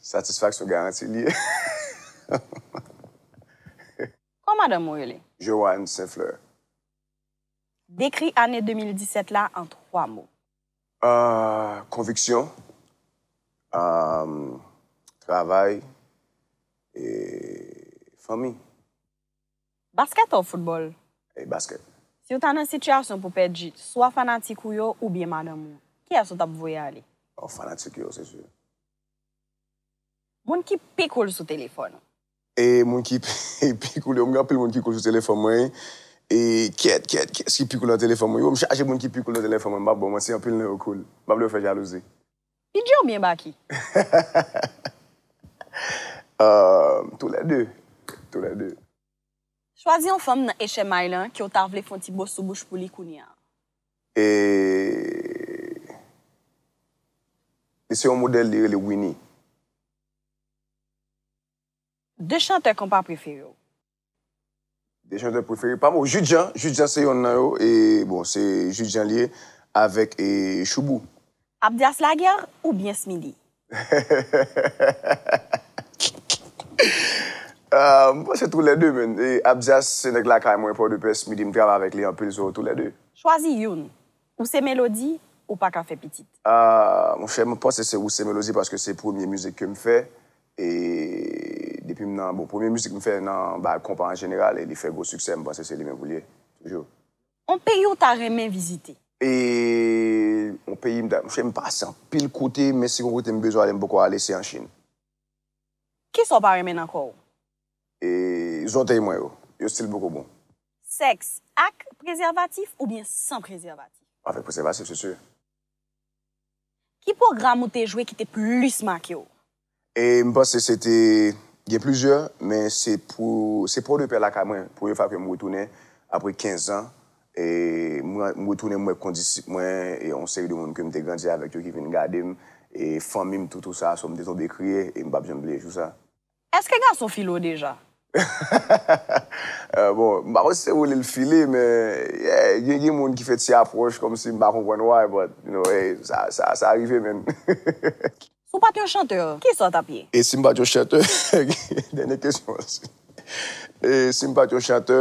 Satisfaksyon garanti li ye. Kòman madanm ou rele? Johanne Saint Fleur. Dekri ane 2017 la an 3 mo. Konviksyon, travay e fanmi. Baskèt or foutbòl? Ey baskèt. Si w ta nan sitiyasyon pou pèdi swa fanatik ou yo oubyen madanm ou, kiyès ou t ap voye ale? Oh fanatik yo se si. Moun ki pi cool sou telefòn ou? E moun ki pi cool yo, m gen anpil moun ki cool sou telefòn mwen wi. E kyèt kyèt kiyès ki pi cool nan telefòn mwen? Yo m chaje moun ki pi cool nan telefòn mwen, m p ap ba w manti anpil nan yo cool. M p ap lè w fè jalouzi. Bidjè ou byen Baky? Ahh tou lè de, tou lè de. Chwazi yon fanm nan HMI lan ke w ta vle fè yon ti bo sou bouch pou li kounye an. E Li se yon modèl li rele Winnie. 2 chantè konpa prefere w? 2 chantè prefere pam oh Jude Jean, Jude Jean se yonn nan yo e bon se Jude Jean li ye avèk e Shoubou. Abdias Laguerre ou byen Smidy? Aah m panse tou lè 2 menn e Abdias se nèg lakay mwen Port-de-Paix Smidy m travay avèk li anpil so tou lè 2. Chwazi youn, Ou se melodi ou paka fè pitit. Ahh monchè mwen panse se ou se melodi paske se premye mizik kem fè e depim nan bon premye mizik m fè nan bay konpa an jeneral e li fè gwo siksè m panse se li menm pou l ye toujou. On peyi w ta renmen vizite? Eeeee on peyi m ta monchè m pase anpil kote men si gon kote m bezwen ale m poko ale se an chine. Kisa w pa renmen nan kò w? zòtèy mwen yo. Yo stil poko bon. Sèks ak prezèvatif oubyen san prezèvatif? Avèk prezèvatif se sur. Ki pwogram ou te jwe ki te plis make w? M panse se te gen plizyè men se pou se Port de Paix lakay mwen premye fwa ke m retounen apre 15 zan m retounen m wè kondisip mwen e yon seri de moun ke m te grandi avèk yo ki vin gade m e fanmi m tou tou sa so m te tonbe kriye e m pap janm bliye jou sa. Eske gason file w deja? Hahahaha bon m pa konn si se woule l file men yeah gen moun ki fè ti apwòch kòmsi m pa konprann why but you know hey sa rive menn hehehehe. Si w pat yon chantè kisa w tap ye? E si m pat yon chantè dènye kesyon an si m pat yon chantè.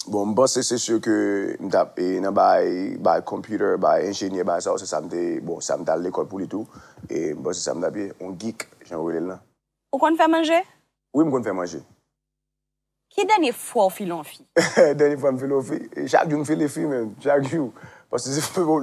Bon m panse se sur ke m tap e nan bay bay computer bay enjenyè bay sa se sa m te bon sa m tal lekòl pou li tou e m panse sa m tap ye on geek jan yo rele l lan. Ou konn fè manje? Wi m konn fè manje. Ki dènye fwa w file on fi? Dènye fwa m file on fi? Chak jou m file fi menm chak jou paske se lè w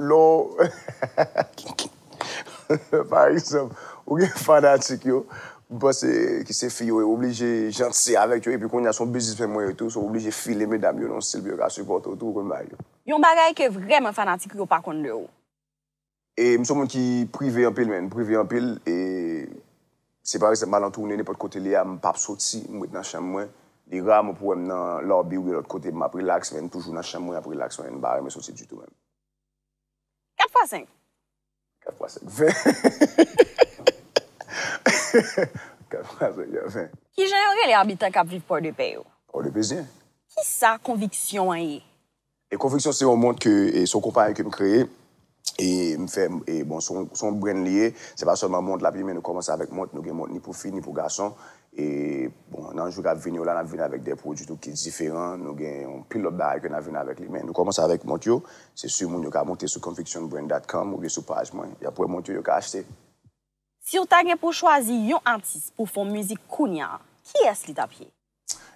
Pa egzanp, ou gen fanatik yo, m panse ki se fi yo, ou oblije janti avèk yo epi kounya se yon bizismen mwen yo tou, so ou oblije file medam yo nan yon stil pou yo ka sipòte w tou, ou konn bagay yo. Yon bagay ke vrèman fanatik ou yo pa konn de ou. E m se yon moun ki prive anpil menn, m prive anpil e si pa egzanp m al an toune nenpòt kote li a m pap soti, m ret nan chanm mwen, li ra mwen pou wè m nan lobby oubyen lòt kote m ap rilaks men m toujou nan chanm mwen ap rilaks mwen, m pa renmen soti ditou menm. 4 fwa 5. 4 fwa 5 20. 4 fwa 5 ya 20. Ki jan yo rele abitan k ap viv Pòdepè yo? Pòdepezyen. Ki sa konviksyon an ye? E konviksyon se yon mont ke, e se yon konpayi ke m kreye, e m fè, e bon se yon, se yon brand li ye, se pa sèlman mont l ap ye men nou kòmanse avèk mont, nou gen mont ni pou fi ni pou gason, E bon, nan jou k ap vini yo la, n ap vini avèk de pwodui tou ki diferan. Nou gen yon pil lòt bagay ke n ap vini avèk li. Men nou kòmanse avèk mont yo. Se sur moun yo ka monte sou convictionbrand dot com oubyen sou paj mwen. Y ap wè mont yo, yo ka achte. Si w ta gen pou w chwazi yon atis pou w fè yon mizik kounya, kiyès li t ap ye?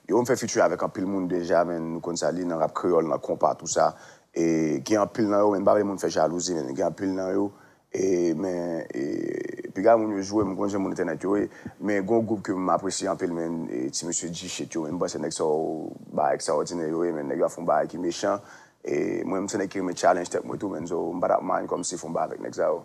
Yo, m fè featuring avèk anpil moun deja men nou konn sa li nan rap kreyòl, nan konpa tou sa. E gen anpil nan yo men m pa vle moun fè jalouzi men gen anpil nan yo E men e piga moun yo jwe m konn jan moun entènèt yo ye men gon gwoup ke m apresye anpil men e ti mesye G-shit yo men m panse nèg sa yo bagay ekstraòdinè yo ye men nèg yo ap fon bagay ki mechan e mwen m se nèg ki renmen challenge tèt mwen tou men so m pa tap mind kòm si fon bagay avèk nèg sa yo.